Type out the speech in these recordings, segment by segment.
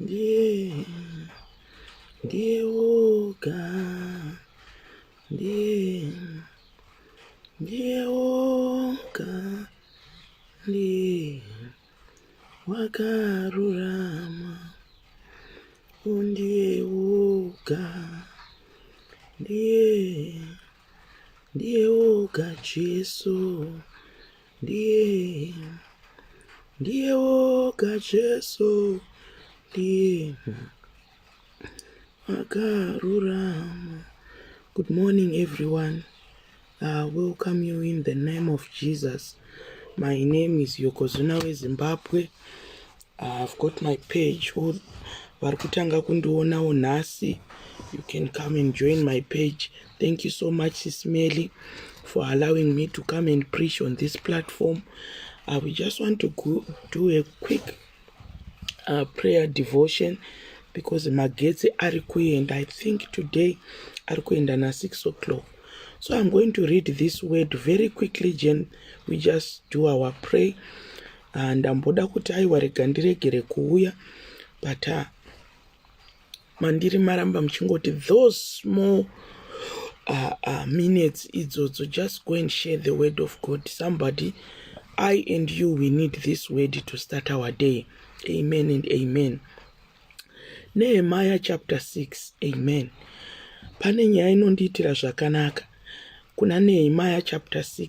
ndiye ndiye woga ndiye ndiye woga ndiye wakarurama undiye woga ndiye ndiye woga jesu ndiye ndiye woga jesu ndiye akarurama good morning everyone uh, welcome you in the name of jesus my name is yokozuna wezimbabwe I've got my page or vari kutanga kundionawo nhasi you can come and join my page thank you so much sismely for allowing me to come and preach on this platform i will just want to go, do a quick uh, prayer devotion because magetsi ari kuenda i think today ari kuenda na6 o'clock so i'm going to read this word very quickly jen we just do our pray ah, ndamboda kuti aiwa rega ndiregere kuuya but ah, mandiri maramba muchingoti those small uh, uh, minutes idzodzo just go and share the word of god somebody i and you we need this word to start our day amen and amen nehemaya chapter 6 amen pane nyaya inondiitira zvakanaka kuna nehemaya chapter 6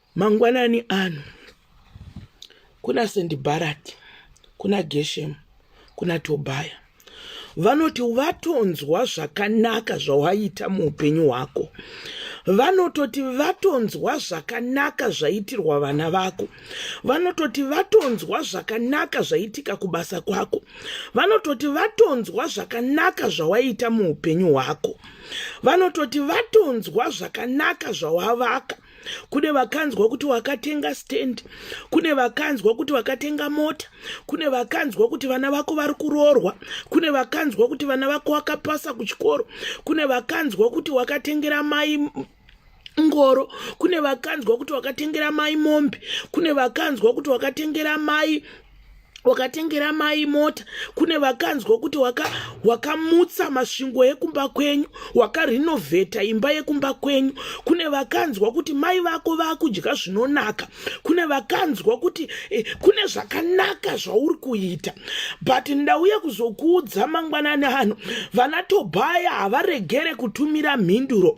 Mangwanani ano kuna Sendibharati, kuna Geshemu, kuna Tobhaya vanoti vatonzwa zvakanaka zvawaita muupenyu hwako vanototi vatonzwa zvakanaka zvaitirwa vana vako vanototi vatonzwa zvakanaka zvaitika kubasa kwako vanototi vatonzwa zvakanaka zvawaita muupenyu hwako vanototi vatonzwa zvakanaka zvawavaka kune vakanzwa kuti wakatenga stand kune vakanzwa kuti wakatenga mota kune vakanzwa kuti vana vako vari kuroorwa kune vakanzwa kuti vana vako wakapasa kuchikoro kune vakanzwa kuti wakatengera mai ngoro kune vakanzwa kuti wakatengera mai mombe kune vakanzwa kuti wakatengera mai wakatengera mai mota kune vakanzwa kuti wakamutsa waka masvingo ekumba kwenyu wakarhinovheta imba yekumba kwenyu kune vakanzwa kuti mai vako vakudya zvinonaka kune vakanzwa kuti eh, kune zvakanaka zvauri kuita but ndauya kuzokuudza mangwanani ano vana tobhaya havaregere kutumira mhinduro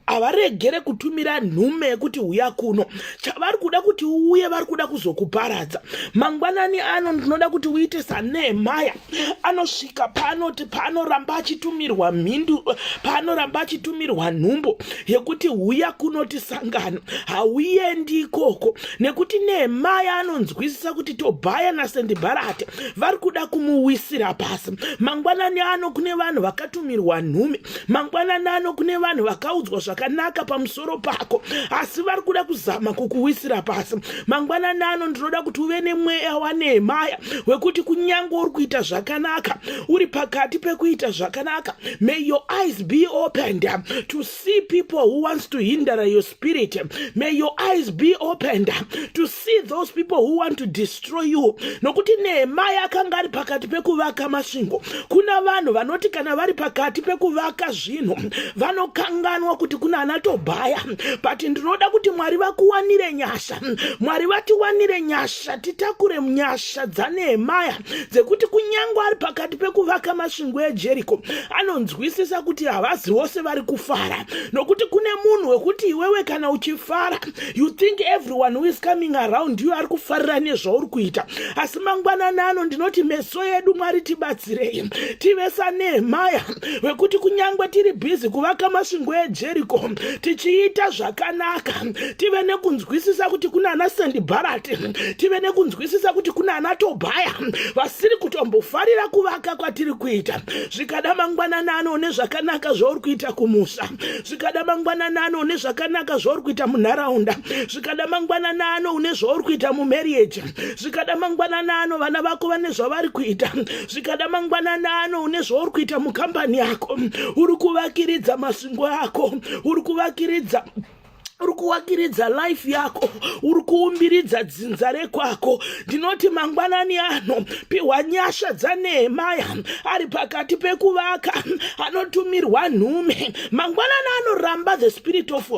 havaregere kutumira nhume yekuti huya kuno chavari kuda kuti uuye vari kuda kuzokuparadza mangwanani ano ndinoda kuti uite sanehemaya anosvika paanoti paanoramba achitumirwa mhindu paanoramba achitumirwa nhumbo yekuti huya kunoti sangano hauendi ikoko nekuti nehemaya anonzwisisa kuti tobhaya nasendibharati vari kuda kumuwisira pasi mangwanani ano kune vanhu vakatumirwa nhume mangwanani ano kune vanhu vakaudzwa zvakanaka pamus pamusoro pako asi vari kuda kuzama kukuwisira pasi mangwanani ano ndinoda kuti uve nemweya wanehemaya wekuti kunyange uri kuita zvakanaka uri pakati pekuita zvakanaka may your eyes be opened to see people who wants to hinder your spirit may your eyes be opened to see those people who want to destroy you nokuti nehemaya akanga ari pakati pekuvaka masvingo kuna vanhu vanoti kana vari pakati pekuvaka zvinhu vanokanganwa kuti kuna ana tobhaya but ndinoda kuti mwari vakuwanire nyasha mwari vatiwanire nyasha titakure nyasha dzanehemaya dzekuti kunyange ari pakati pekuvaka masvingo ejeriko anonzwisisa kuti havazi vose vari kufara nokuti kune munhu wekuti iwewe kana uchifara you think everyone who is coming around you ari kufarira nezvauri kuita asi mangwanani ano ndinoti meso yedu mwari tibatsirei tive sanehemaya wekuti kunyange tiri bhizi kuvaka masvingo ejeriko tichiita zvakanaka tive nekunzwisisa kuti kuna ana sendibharati tive nekunzwisisa kuti kuna ana tobhaya vasiri kutombofarira kuvaka kwatiri kuita zvikada mangwanani ano nezvakanaka zvauri kuita kumusha zvikada mangwanani ano une zvakanaka zvauri kuita munharaunda zvikada mangwanani ano une zvauri kuita mumarriage zvikada mangwanani ano vana vako vane zvavari kuita zvikada mangwanani ano une zvauri kuita mukambani yako uri kuvakiridza masingo ako uri kuvakiridza uri kuwakiridza life yako uri kuumbiridza dzinza rekwako ndinoti mangwanani ano pihwa nyasha dzaNehemaya ari pakati pekuvaka anotumirwa nhume mangwanani anoramba the spirit of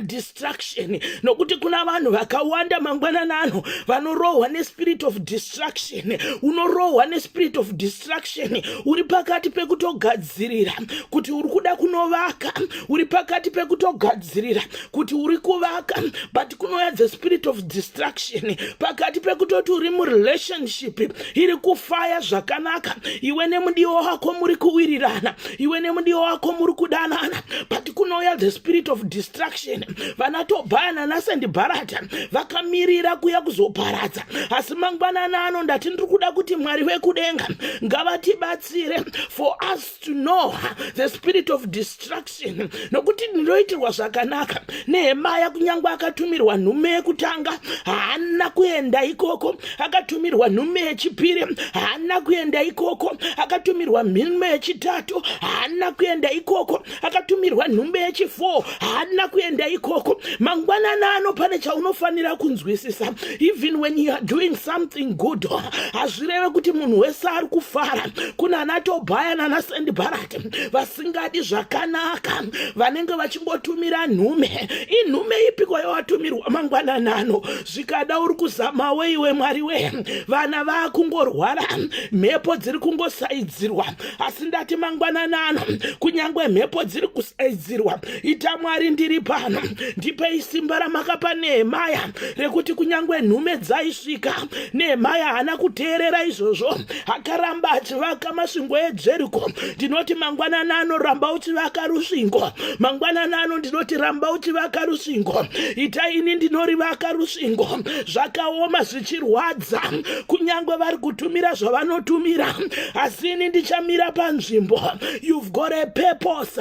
distraction nokuti kuna vanhu vakawanda mangwanani ano vanorohwa nespirit of distraction unorohwa nespirit of distraction uri pakati pekutogadzirira kuti uri kuda kunovaka uri pakati pekutogadzirira kuti uri kuvaka but kunouya the spirit of distraction pakati pekutoti uri murelationship iri kufaya zvakanaka iwe nemudiwa wako muri kuwirirana iwe nemudiwa wako muri kudanana but kunouya the spirit of distraction vana tobhayana nasendi bharata vakamirira kuya kuzoparadza asi mangwanana ano ndati ndiri kuda kuti mwari vekudenga ngavatibatsire for us must know the spirit of destruction nokuti ndinoitirwa zvakanaka nehemaya kunyange akatumirwa nhume yekutanga haana kuenda ikoko akatumirwa nhume yechipiri haana kuenda ikoko akatumirwa nhume yechitatu haana kuenda ikoko akatumirwa nhume yechifour haadina kuenda ikoko mangwanani ano pane chaunofanira kunzwisisa even when you are doing something good hazvireve kuti munhu wese ari kufara kuna ana tobhaya nana sendibharati vasingadi zvakanaka vanenge vachingotumira nhume inhume ipiko yawatumirwa mangwanani ano zvikada uri kuzamawo iwe mwari wee vana vaakungorwara mhepo dziri kungosaidzirwa asi ndati mangwanani ano kunyange mhepo dziri kusaidzirwa ita mwari ndiri pano ndipei simba ramakapa nehemaya rekuti kunyange nhume dzaisvika nehemaya haana kuteerera izvozvo akaramba achivaka masvingo edzveriko ndinoti mangwanani ano ramba uchivaka rusvingo mangwanani ano ndinoti ramba uchivaka rusvingo ita ini ndinorivaka rusvingo zvakaoma chirwadza kunyange vari kutumira zvavanotumira asi ini ndichamira panzvimbo you've got a purpose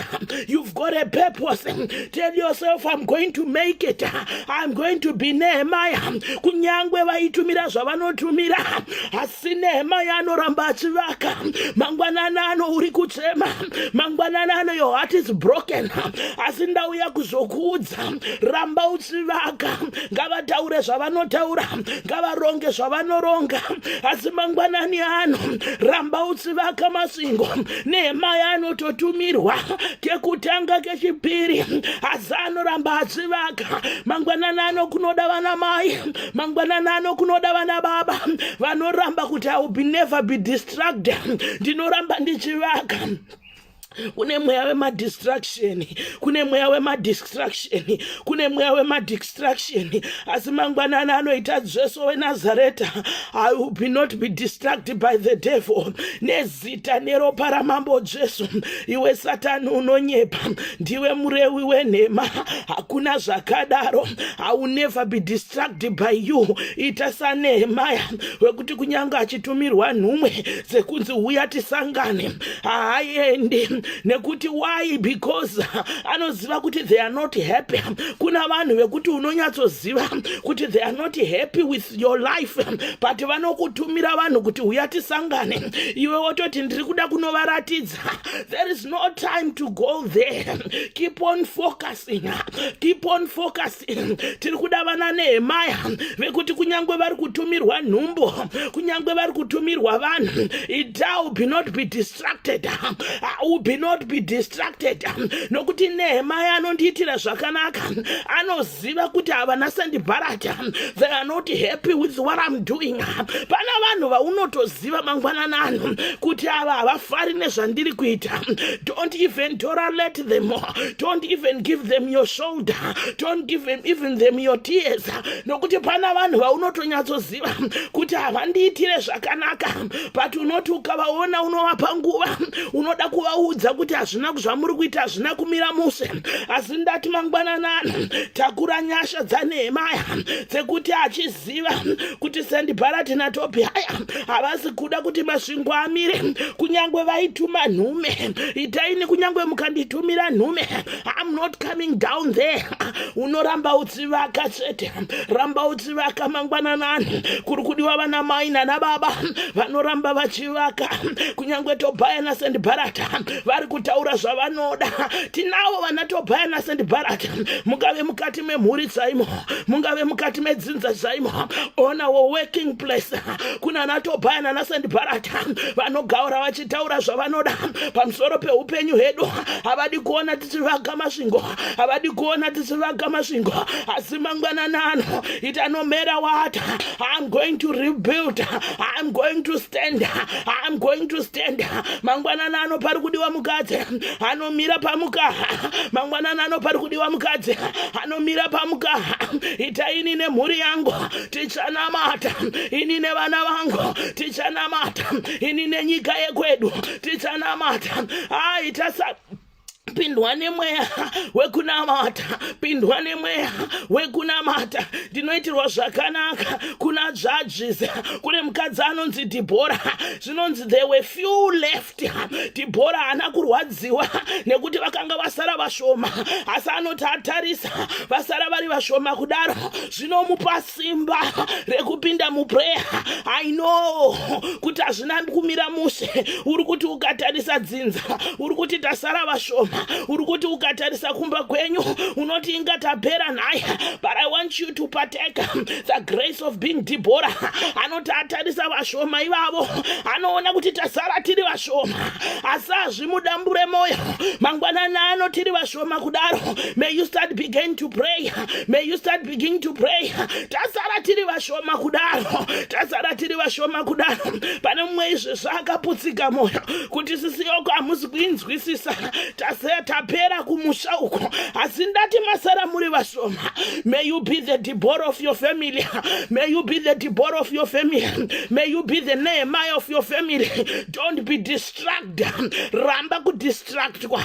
you've got a purpose tell yourself i'm going to make it i'm going to be nehemaya kunyange vaitumira zvavanotumira asi nehemaya anoramba achivaka mangwanani ano uri kuchema mangwanani ano your heart is broken asi ndauya kuzokuudza ramba uchivaka ngavataure zvavanotaura ngavaronge zvavanoronga asi mangwanani ano ramba usivaka masingo nehemaya anototumirwa kekutanga kechipiri asi anoramba asivaka mangwanani ano kunoda vana mai mangwanani ano kunoda vana baba vanoramba kuti i will be never be distracted ndinoramba ndichivaka kune mweya wemadistraction kune mweya wemadistraction kune mweya wemadistraction asi mangwanani anoita jesu wenazareta i will be not be distracted by the devil nezita neropa ramambo jesu iwe satani unonyepa ndiwe murewi wenhema hakuna zvakadaro i will never be distracted by you ita sanehemaya wekuti kunyange achitumirwa nhumwe dzekunzi huya tisangane haaendi nekuti why because anoziva kuti they are not happy kuna vanhu vekuti unonyatsoziva kuti they are not happy with your life but vanokutumira vanhu kuti huya tisangane iwe wototi ndiri kuda kunovaratidza there is no time to go there keep on focusing keep on focusing tiri kuda vana nehemaya vekuti kunyange vari kutumirwa nhumbu kunyange vari kutumirwa vanhu itau be not be distracted u be not be distracted nokuti nehemaya anondiitira zvakanaka anoziva kuti havana sandibharata they are not happy with what i'm doing pana vanhu vaunotozi kuziva mangwanani ano kuti ava havafari nezvandiri kuita don't even tolerate them don't even give them your shoulder don't give them even them your tears nokuti pana vanhu vaunotonyatsoziva kuti havandiitire zvakanaka but unoti ukavaona unovapa nguva unoda kuvaudza kuti hazvina zvamuri kuita hazvina kumira mushe asi ndati mangwanani ano takura nyasha dzaneemaya dzekuti achizi Ziva kuti Sandibharati naTobhiaya havasi kuda kuti masvingo amire, kunyange vaituma nhume. Itaini kunyange mukanditumira nhume, I'm not coming down there. Unoramba utsivaka chete, ramba utsivaka mangwananani. Kuri kudiwa vana mai nana baba vanoramba vachivaka, kunyange Tobhaya naSandibharata vari kutaura zvavanoda. Tinavo vana Tobhaya naSandibharata mukave mukati memhuri saimo. mungave mukati medzinza zvaimo onawo working place kuna natobhaya nanasandibharata vanogaura vachitaura zvavanoda pamusoro peupenyu hedu havadi kuona tichivaga masvingo havadi kuona tichivaga masvingo asi mangwananano it anomera wata iam going to rebuild iam going to stand iam going to stand mangwananano pari kudiwa mukadzi anomira pamukaha mangwananano pari kudiwa mukadzi nomira pamukaha ita ini nemhuri yangu tichanamata ini nevana vangu tichanamata ini nenyika yekwedu tichanamata aita sa pindwa nemweya wekunamata pindwa nemweya wekunamata ndinoitirwa zvakanaka kuna judges kune mukadzi anonzi dhibhora zvinonzi there were few left dhibhora haana kurwadziwa nekuti vakanga vasara vashoma asi anoti atarisa vasara vari vashoma kudaro zvinomupa simba rekupinda muprayer i know kuti hazvina kumira mushe uri kuti ukatarisa dzinza uri kuti tasara vashoma uri kuti ukatarisa kumba kwenyu unoti inga tapera nhaya but i want you to partake the grace of being dhibhora anoti atarisa vashoma ivavo anoona kuti tasara tiri vashoma asi hazvimudambure mwoyo mangwanani ano tiri vashoma kudaro may you start begin to pray may you start begin to pray tasara tiri vashoma kudaro tasara tiri vashoma kudaro pane mumwe izvi zvaakaputsika mwoyo kuti sisi yoko hamusi kuinzwisisa tapera kumusha uko asi ndati masara muri vashoma May you be the Deborah of your family. May you be the Deborah of your family. May you be the Nehemiah of your family. Don't be distracted. Ramba ku distract kwa.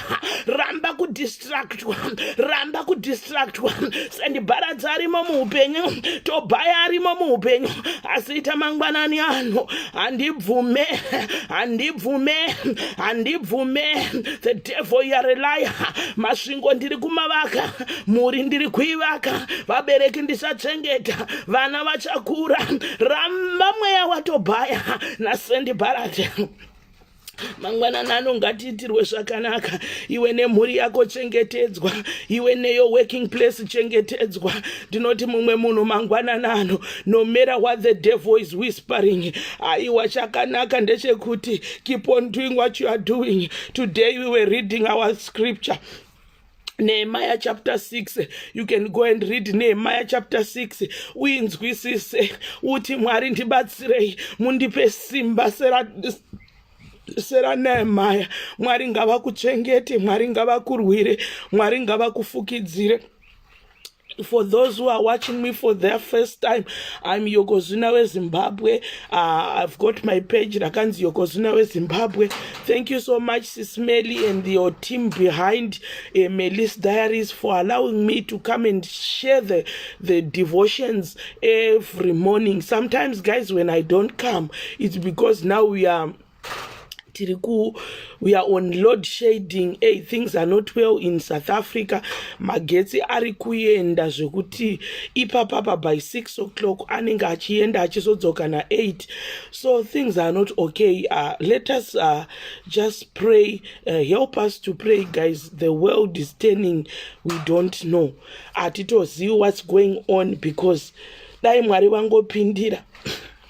Ramba ku distract kwa. Ramba ku distract kwa. Sendi baradza arimo muupenyu. Tobhaya arimo muupenyu. Asiita mangwanani ano. Handibvume. Handibvume. Handibvume. The devil you are a liar. Masvingo ndiri kumavaka. mhuri ndiri kuivaka vabereki ndisachengeta vana vachakura ramba mweya watobhaya nasendi bharati mangwanana ano ngatiitirwe zvakanaka iwe nemhuri yako chengetedzwa iwe neyo working place chengetedzwa ndinoti mumwe munhu mangwanana ano no matter what the devil is whispering aiwa chakanaka ndechekuti keep on doing what you are doing today we were reading our scripture Nehemiah chapter 6 you can go and read Nehemiah chapter 6 uinzwisise uti Mwari ndibatsirei mundipe simba sera sera Nehemiah Mwari ngavakuchengete Mwari ngavakurwire Mwari ngavakufukidzire for those who are watching me for their first time i'm yokozuna wezimbabwe uh, i've got my page rakanzi yokozuna wezimbabwe thank you so much sismely and your team behind uh, eh, melis diaries for allowing me to come and share the, the devotions every morning sometimes guys when i don't come it's because now we are tiri ku we are on load shading hey, things are not well in south africa magetsi ari kuenda zvekuti ipapapa by six o'clock anenge achienda achizodzoka naeight so things are not okay uh, let us uh, just pray uh, help us to pray guys the world is turning we don't know hatitozivi what's going on because dai mwari vangopindira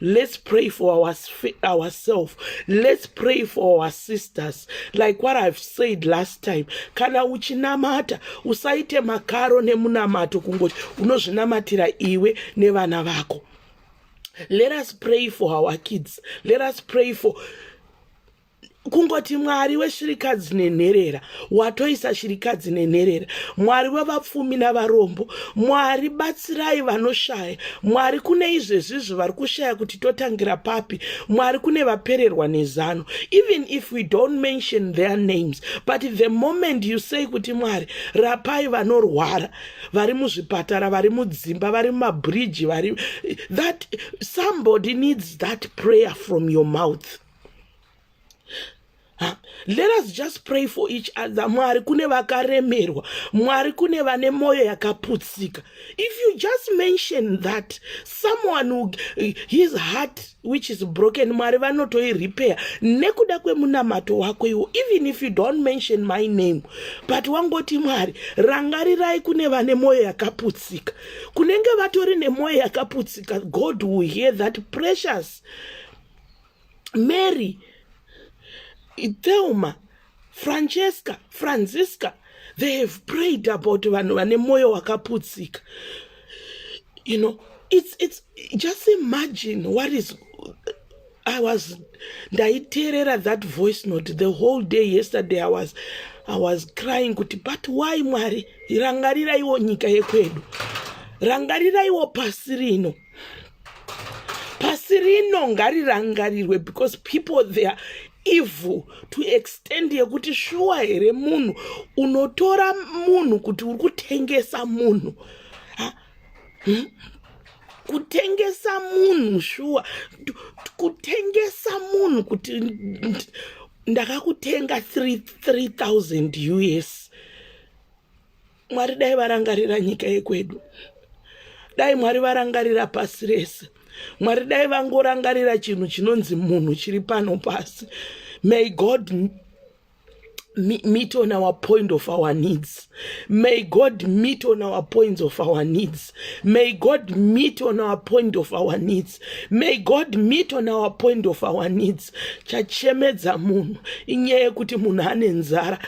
Let's pray for our, ourselves. Let's pray for our sisters. Like what I've said last time. Kana uchinamata, usaite makaro nemunamato kungoti unozvinamatira iwe nevana vako. Let us pray for our kids. Let us pray for kungoti mwari weshirikadzi nenherera watoisa shirikadzi nenherera mwari wevapfumi navarombo mwari batsirai vanoshaya mwari kune izvezvizvi vari kushaya kuti totangira papi mwari kune vapererwa nezano even if we don't mention their names but the moment you say kuti mwari rapai vanorwara vari muzvipatara vari mudzimba vari mumabhiriji vari that somebody needs that prayer from your mouth let us just pray for each other mwari kune vakaremerwa mwari kune vane mwoyo yakaputsika if you just mention that someone who, his heart which is broken mwari vanotoirepair nekuda kwemunamato wako iwo even if you don't mention my name but wangoti mwari rangarirai kune vane mwoyo yakaputsika kunenge vatori nemwoyo yakaputsika god will hear that precious mary thelma francesca francisca they have prayed about vanhu vane mwoyo wakaputsika you know it's, it's just imagine what is i was ndaiteerera that voice note the whole day yesterday i was i was crying kuti but why mwari rangariraiwo nyika yekwedu rangariraiwo pasi rino pasi rino ngarirangarirwe because people they are evil to extend yekuti shuwa here munhu unotora munhu kuti uri kutengesa munhu hmm? kutengesa munhu shuwa kutengesa munhu kuti ndakakutenga 3000 us mwari dai varangarira nyika yekwedu dai mwari varangarira pasi rese mwari dai vangorangarira chinhu chinonzi munhu chiri pano pasi may god meet on our point of our needs may god meet on our points of our needs May God meet on our point of our needs. May God meet on our point of our needs. Chachemedza munhu inyaya yekuti munhu ane nzara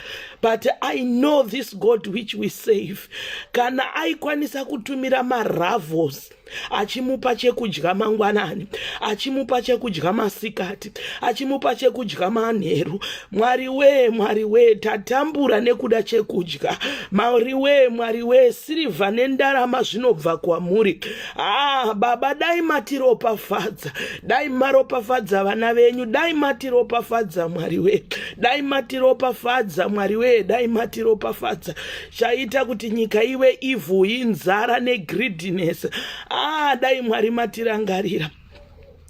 but I know this God which we save. Kana aikwanisa kutumira maravos achimupa chekudya mangwanani achimupa chekudya masikati achimupa chekudya manheru mwari wee mwari wee tatambura nekuda chekudya mwari wee mwari wee sirivha nendarama zvinobva kwamuri ah baba dai matiropafadza dai maropafadza vana venyu dai matiropafadza mwari wee dai matiropafadza mwari wee dai matiropafadza chaita kuti nyika ive ivhu inzara negreediness ah dai mwari matirangarira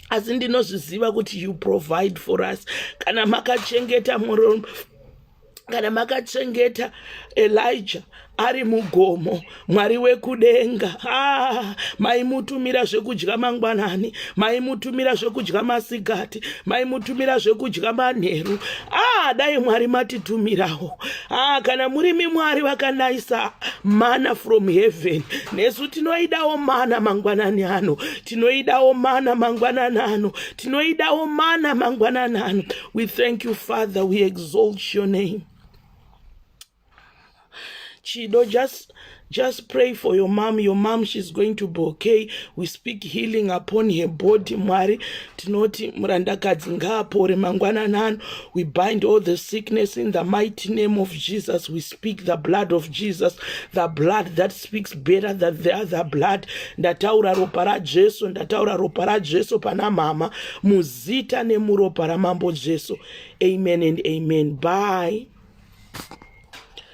asi ndinozviziva kuti you provide for us kana makachengeta murume kana makachengeta elija ari mugomo mwari wekudenga ah, maimutumira zvekudya mangwanani maimutumira zvekudya masikati maimutumira zvekudya manheru ah, dai mwari matitumirawo ah, kana murimi mwari vakanayisa mana from heaven nesu tinoidawo mana mangwanani ano tinoidawo mana mangwanana ano tinoidawo mana mangwanana ano we thank you father we exalt your name chido just just pray for your mom your mom she's going to be okay we speak healing upon her body mwari tinoti murandakadzi ngaapore mangwananano we bind all the sickness in the mighty name of jesus we speak the blood of jesus the blood that speaks better than the other blood ndataura ropa rajesu ndataura ropa rajesu pana mhama muzita nemuropa ramambo jesu amen and amen bye